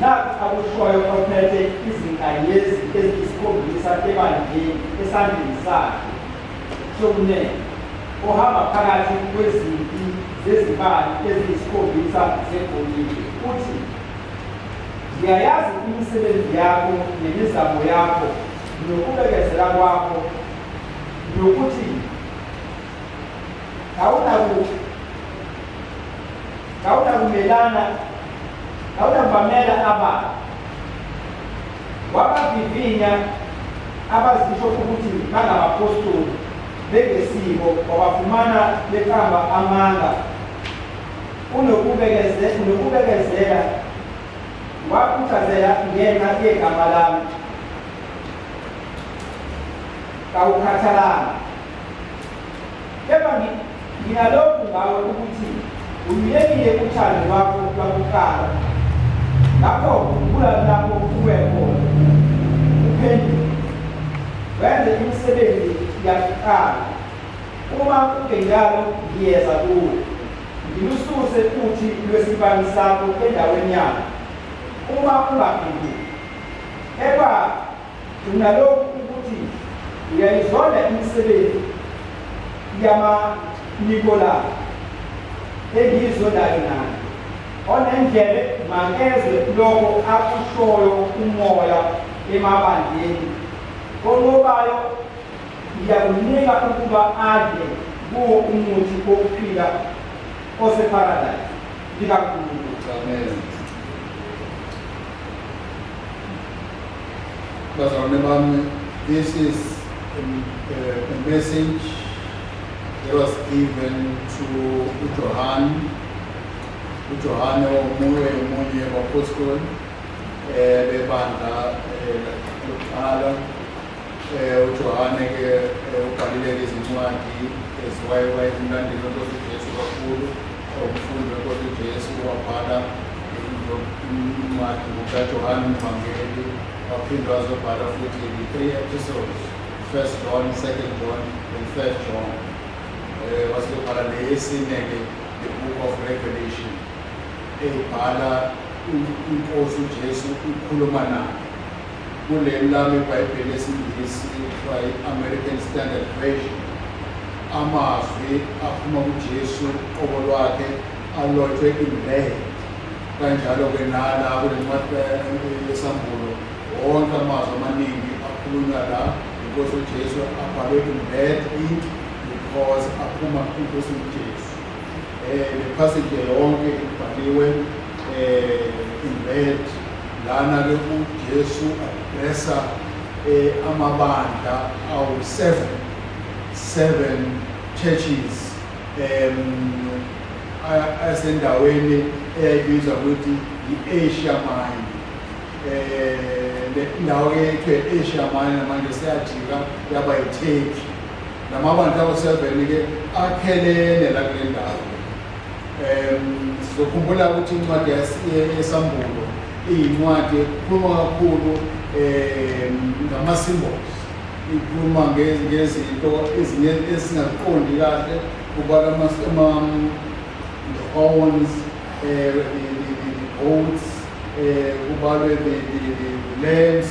Nakhu akushoyo ophethe izinkanyezi eziyisikhombisa ebandleni esandleni sakhe sokunene, ohamba phakathi kwezimpi zezibani eziyisikhombisa zegolide, uthi, Ngiyayazi imisebenzi yakho nemizamo yakho nokubekezela kwakho nokuthi kawunakumelana Awuyabamela abantu wabavivinya abazisho ukuthi bangabapostoli bengesiko wabafumana beqamba amanga unokubekezela wakhuthazela ngenxa yegama lami kawukhathalanga Kepha nginalokhu ngawe ukuthi uyekile uthando lwakho lwakuqala ngakho khumbula lapho uwe khona uphenduke wenze imisebenzi yakuqala uma kungenjalo ngiyeza kuwe ngilususe futhi lwesibani sakho endaweni yakho uma ungaphenduki eba Kunalokhu ukuthi uyayizonda imisebenzi yamaNikolai engiyizondayo nayo onendlebe makezwe lokho akushoyo umoya emabandleni onqobayo ngiyakunika ukuba adle kuwo umuthi wokuphila oseparadise likankulunkulu Bazalwane bami, this is a, a, a message that was given to uJohane. UJohane omunye omunye wabapostoli eh bebandla eh, lokuqala eh uJohane ke eh, ubhalile izincwadi eziwayewaye emlandweni oNkosi Jesu kakhulu Okufundwe kodwa uJesu wabhala incwadi kukaJohane uMvangeli waphinde wazobhala futhi ngi-three episodes first John second John and third John um wasebhala neyesine-ke the book of revelation eyibhala inkosi ujesu ikhuluma nayo Kuleli lami iBhayibheli esiNgisi kuthiwa i-American Standard Version, amazwi aphuma kuJesu qobo lwakhe alotshwe imbehe. Kanjalo-ke nala kule ncwadi yesambulo wonke amazwi amaningi akhulunywa la inkosi uJesu abhalwe imbehe inki because aphuma kuNkosi uJesu. um nephasage yonke ibhaliwe um imbed lana-ke ujesu adresa um eh, amabandla awu-seven seven churches um asendaweni eyayibizwa ukuthi yi-asia mine um indawo yethu e-asia mine manje seyajika yaba yitheki La mabandla awu-7-ke akhelene la kule ndawo. Um sizokhumbula ukuthi incwadi yesambulo iyincwadi ekhuluma kakhulu um ngama-symbols ikhuluma ngezinto ezinye esingaziqondi kahle kubalwa ama-horns um the goats um kubalwe the lens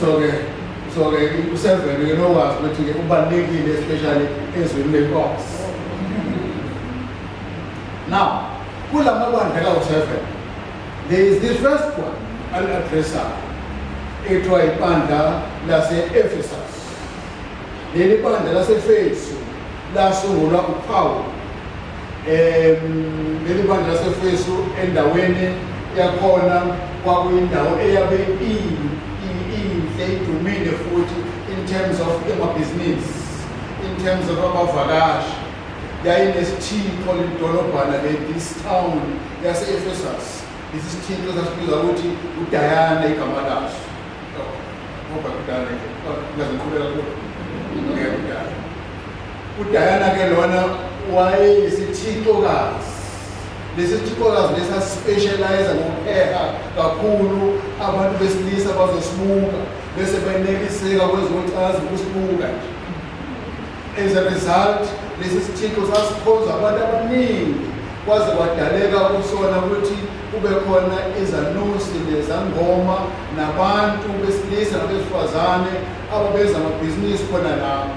so ke so ke usevele ke nokwazi ukuthi ke ubalekile especially ezweni lenkosi now kulama bandla ka usevele there is the first one al addressa ethiwa ibandla lase Ephesus leli bandla lase Efesu lasungulwa uPaul leli bandla laseFesu endaweni yakhona kwakuyindawo eyabe iyinhle idumile futhi in terms of emabhizinisi in terms of abavakashi yayinesithixo lidolobhana le-this town yase-efesus lesi sithixo sasibizwa ukuthi udayana igama laso ngoba kudala ngaziqhubeka kuyo ngeke kudala UDiana ke lona wayeyisithixokazi lesi sithixokazi lesi asispecialize ngokuheha kakhulu abantu besilisa bazosibuka bese benekiseka kwezocansi ukusibuka nje as a result lesi sithixo sasikhonza abantu abaningi kwaze kwadaleka kusona ukuthi kube khona izanusi nezangoma nabantu besilisa nabesifazane ababeza amabhizinisi khona lapho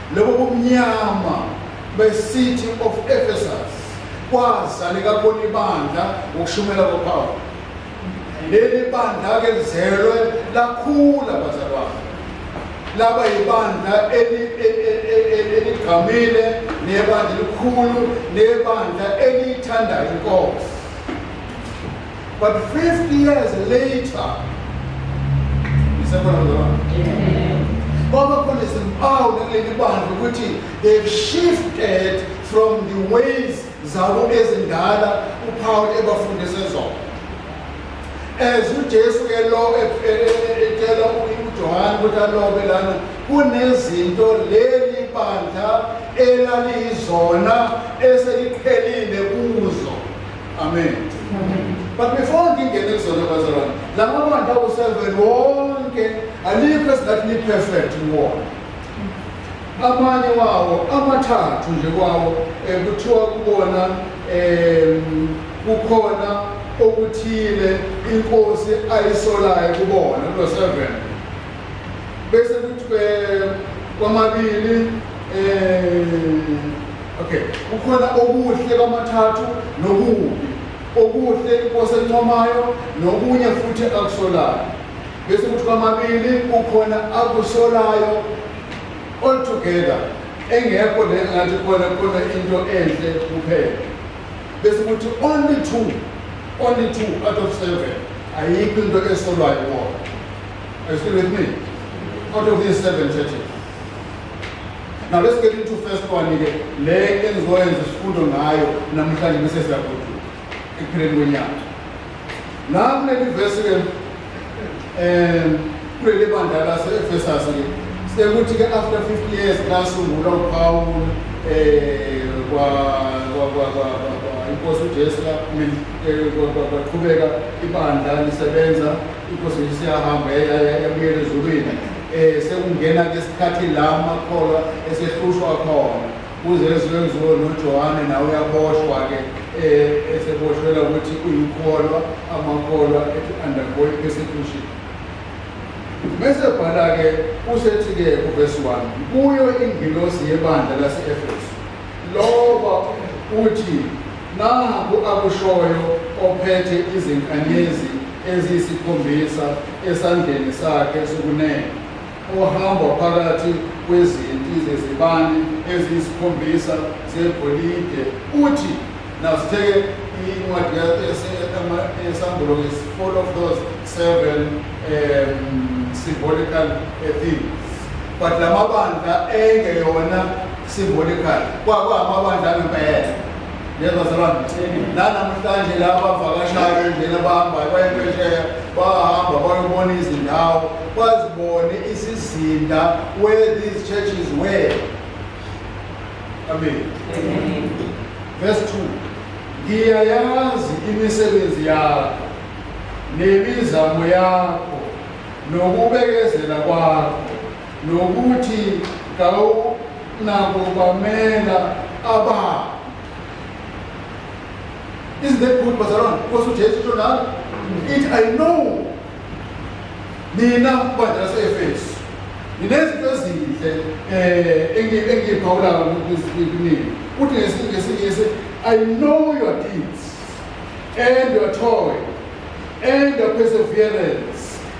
Lobo bumnyama be-city of Ephesus kwazaleka kona ibandla ngokushumela kwaPawulu. Leli bandla-ke lizelwe lakhula bazalwane laba yibandla e, e, e, eligqamile nebandla elikhulu nebandla eliyithandayo inkosi But 50 years later, isekhona lona. Kwaba khona izimpawu kuleli bandla ukuthi they've shifted from the ways zabo ezindala uPaul ebafundise zona. As uJesu ke lo etshela uJohane ukuthi alobe lana kunezinto leli bandla elaliyizona eseliqhelile kuzo Amen. But before ngingene kuzona bazalwane, la mabandla ku-seven wonke alikho esingathi ni-perfect kuwona. Amanye wawo amathathu nje kwawo eh, kuthiwa kubona um kukhona okuthile inkosi ayisolayo kubona kulo seven bese kuthi eh, kwamabili um Okay, kukhona okuhle kwamathathu nokubi. Okuhle inkosi encomayo nokunye futhi akusolayo. Bese kuthi kwamabili kukhona akusolayo all together engekho le ngathi khona khona into enhle kuphela. Bese kuthi only two only two out of seven ayikho into esolwayo wona. Are you still with me? Out of these seven churches. Now let's get into first one ke le engizoyenza isifundo ngayo namhlanje bese siyagoduka ekupheleni kwenyanga. La kuleli verse ke eh kuleli bandla lase Ephesus ke sekuthi ke after 50 years lasungulwa uPawulu eh kwa kwa kwa kwa inkosi uJesu la eh, kwaqhubeka ibandla lisebenza inkosi isiyahamba yabuyela ezulwini Eh sekungena ke isikhathi la makholwa esehlushwa khona kuze ezwenziwe noJohane nawe uyaboshwa ke eh eseboshwela ukuthi uyikholwa amakholwa ethi undergoing persecution bese bhala ke usethi ke uverse 1 kuyo ingilosi yebandla lase-efesu Loba uthi nangu akushoyo ophethe izinkanyezi eziyisikhombisa esandleni sakhe sokunene ohamba phakathi kwezinti zezibani eziyisikhombisa zegolide uthi nasitheke incwadi yesambolo is full of those seven um, symbolical uh, things but la mabandla engeyona Symbolical kwakwamabandla ngempela lezo zalwana nanamhlanje la bavakashayo indlela bahambayo bayempesheya bahamba bayobona izindawo bazibone isizinda where these churches were amen verse 2 ngiyayazi imisebenzi yakho nemizamo yakho nokubekezela kwakho nokuthi kawunabo bamela aba isn't that good bazalwane because ujesu usho nalo ithi i know nina bandla lase-efesu nginezinto ezinhle um engiyiphawulayo kunini kuthi ngesingisi i know your deeds and your toil and your perseverance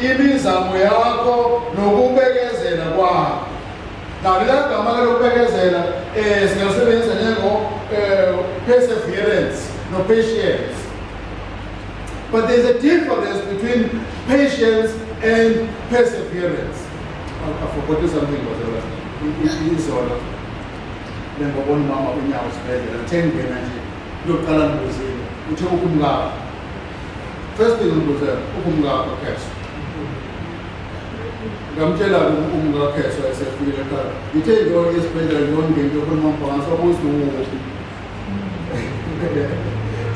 Imizamo yakho nokubekezela kwakho. Nalo lagama lokubekezela eh singasebenzisa njengo eh, perseverance no patience. But there's a difference between patience and perseverance. I, I forgot something about the izolo. Lengobona umama unyawo sibhedlela, ngithengena nje. Kuyoqala ngibuzile. Uthe ukumlapha. First thing ukuze ukumka kwakheswa. Ngamtshela ukumka kwakheswa esefike ekhaya. Ngithe into esibhedlela yonke into ekhuluma mfana sokuthi uwuphi.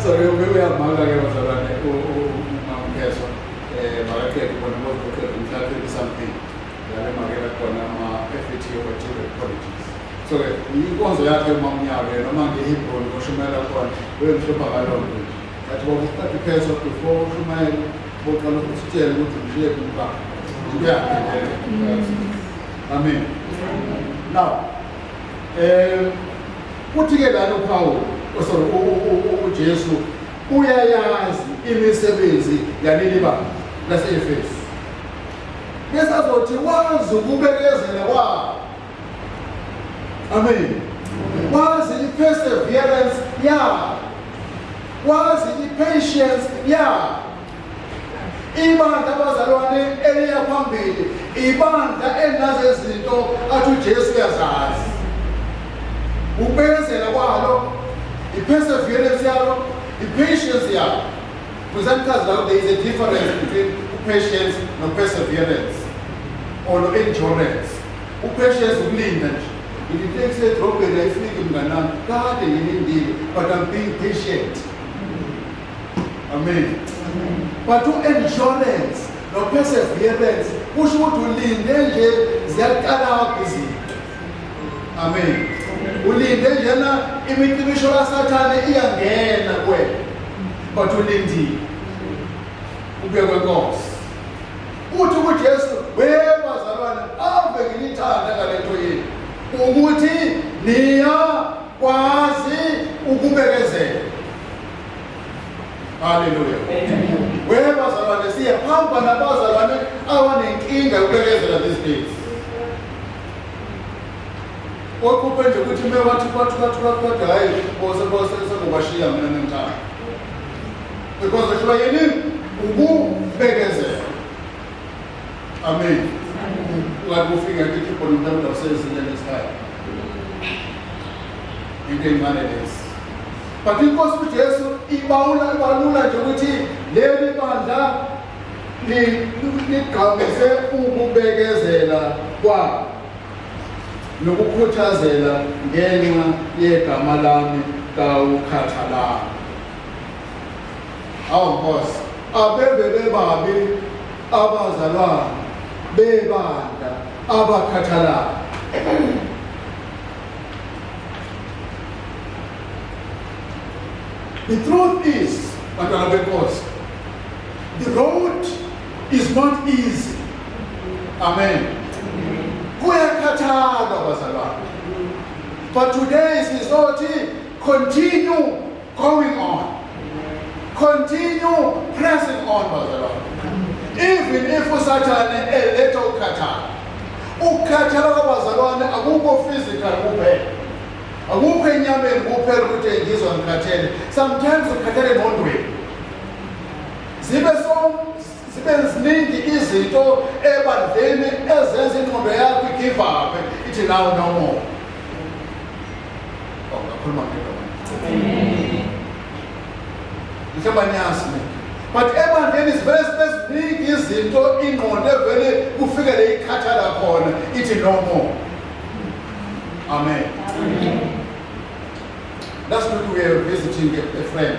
So ke ubeke yamanga ke bazalwane ukumkheswa eh bakaqeda bona ngokuqeda umthathe something. Yale makela khona ama FET obachelor colleges. So ke inkonzo yakhe umamnyaka noma ngeHebron oshumayela khona wemhlopha kalonto. But when we start to catch up before Shumail, we can look at the look at the look back. Yeah. Amen. Now, kuthi ke lana uPawulu sorry uJesu uyayazi imisebenzi yaleli banga lase-Efesu besazothi wazi ukubekezela kwabo Amen. Wazi i-perseverance yakho. Wazi i-patience yakho. Ibandla abazalwane eliya phambili, ibandla elinazo izinto athi uJesu uyazazi. Ukubekezela kwalo, i-perseverance yalo, i-patience yalo. Kusanchaza lapho there is a difference between patience no perseverance or no endurance. Uprecious ukulinda nje. Ngilinde kusedrobheni ayifiki mnganami. Kade ngilindile but I'm being patient. Amen. But u-endurance no-perseverance kusho ukuthi ulinde nje ziyaqala izinto. Amen. Ulinde njena imicibisho kaSathane iyangena kuwena. But ulindile. Ubekwe Nkosi. Uthi kuJesu, "Wewe bazalwane, ave nginithanda ngalento yenu ukuthi niya kwazi ukubekezela." Haleluya. Wewe bazalwane, siyahamba nabazalwane abanenkinga yokubekezela these days. Okhuphe nje ukuthi mewathi kwathi kwathi kwathi hayi bose bose sengobashiya mina nemntana. because wehlulwa yini ukubekezela amen ngathi kufika ngithi khipho nomntu usezinye ngesikhayi into encane lesi but inkosi ujesu ibawula ibalula nje ukuthi leli bandla ligqamise ukubekezela kwabo nokukhuthazela ngenxa yegama lami kawukhathalanga awu nkosi abeve bebabi abazalwana bebanda abakhathalayo the truth is bantwana benkosi the road is not easy amen kuyakhathala abazalwane but today sizothi continue Going on. Continue pressing on, bazalwane. Even if usathane eletha ukukhathala. Ukukhathala kwabazalwane akukho physical kuphela. Akukho enyameni kuphela ukuthi ngizwa ngikhathele. Sometimes ukhathele engqondweni. Zibe so zibe ziningi izinto ebandleni ezenza ingqondo yakho igive up ithi nawo no more oh, ngakhuluma ngedoma mhlawumbe aniyazi mina but ebandleni zivele zibe ziningi izinto ingqondo evele kufike le ikhathala khona ithi no more amen last week we were visiting a, a friend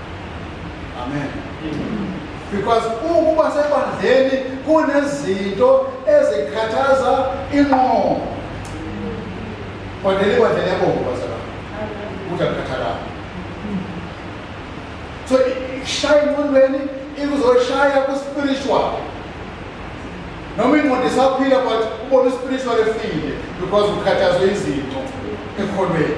Amen. Because ukuba sebandleni kunezinto ezikhathaza inqondo. Kodwa libandla liyabonga bazalwa. Ukuthi akukhathalanga. So ishaya ingqondweni ikuzoshaya ku-spiritual. Noma ingqondo isaphila but ubona u-spiritual efile because ukhathazwe izinto ekhonweni.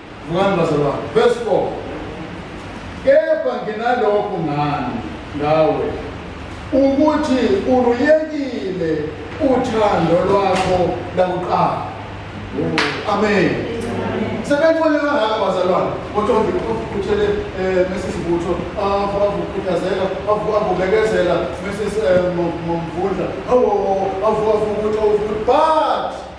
Vukani bazalwane. Verse 4. Kepha nginalokhu ngani ngawe ukuthi uluyekile uthando lwakho lakuqala. Amen. Sebethole kangaka bazalwane kodwa ngikhuthele eh Mrs Butho avukhuthazela avubekezela Mrs Mvundla awu avu avu ukuthi but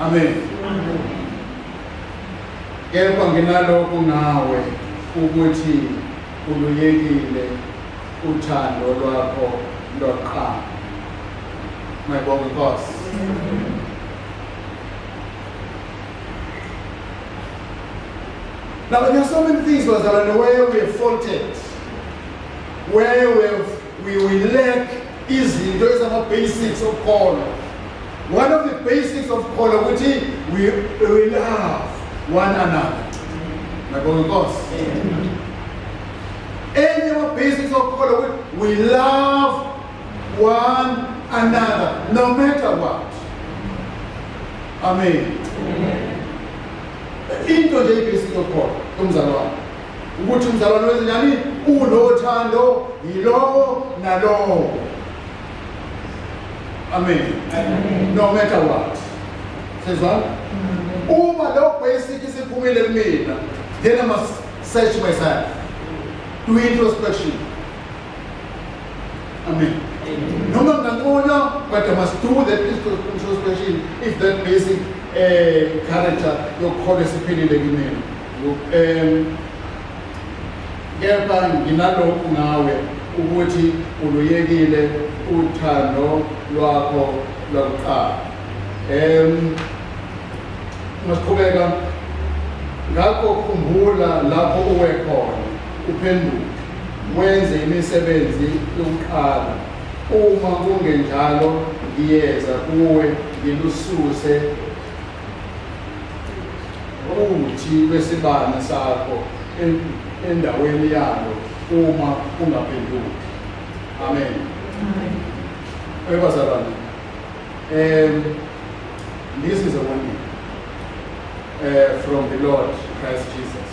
Amen. Kepha nginalokhu ngawe ukuthi uluyekile uthando lwakho lokuqala. Ngiyabonga Nkosi. Now, there are so many things, Rosalind, where we have faulted, where we have We will lack izinto ezama basics of kholo. One of the basics of kholo ukuthi we will love one another. Ngabonga Nkosi. Enye ama basics of kholo ukuthi we love one another no matter what. Amen. Amen. Into nje ibasic of kholo kumzalwane. ukuthi umzalwane wezinyani unothando yilowo nalowo amen no matter what sezwana uma lo basic isiphumile kumina then i must search myself do introspection amen noma nginganconywa but i must do that introspection if that basic um character yokukhona esiphilile kimina Um, kepha nginalokhu ngawe ukuthi uluyekile uthando lwakho lwakuqala um masiqhubeka ngakho khumbula lapho uwe khona uphenduke wenze imisebenzi yokuqala uma kungenjalo ngiyeza kuwe ngilususe Uthi lwesibani sakho endaweni yalo uma ungaphenduki. Amen. Amen. Ebazalwane. Um this is a warning uh, from the Lord Christ Jesus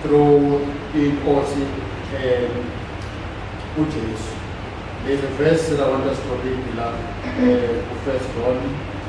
through inkosi um uJesu. There's a verse that I want us to read, beloved, uh, First John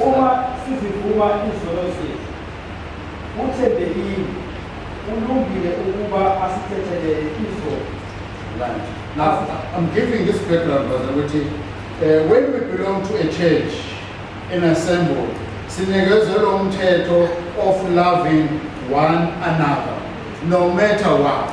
Uma sizivuma izono zethu, uthembekile ulungile ukuba asithethelele izono. Now, I'm giving this background, Brother Witty. Uh, when we belong to a church, an assembly, sinikezela umthetho of loving one another, no matter what.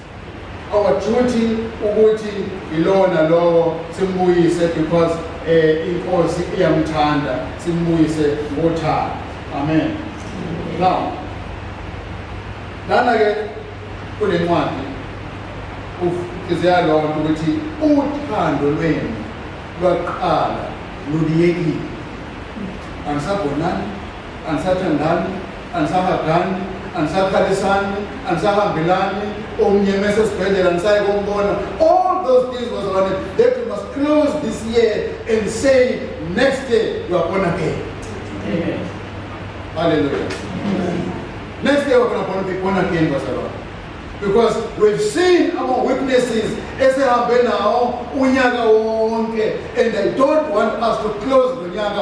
our duty ukuthi yilona lowo simbuyise because eh inkosi iyamthanda simbuyise ngothando amen now lana ke kunencwadi ufizeya lonto ukuthi uthando lwenu lwaqala luliyekile anisabonani anisathandani anisahagani anisakhalisani anisahambelani omnye mese esibhedlela nisaye kombona all those things was on it that we must close this year and say next year you are born again Amen. hallelujah Amen. next year we're going to be born again bazalwane because we've seen our witnesses esihambe nawo unyaka wonke and i don't want us to close the nyaka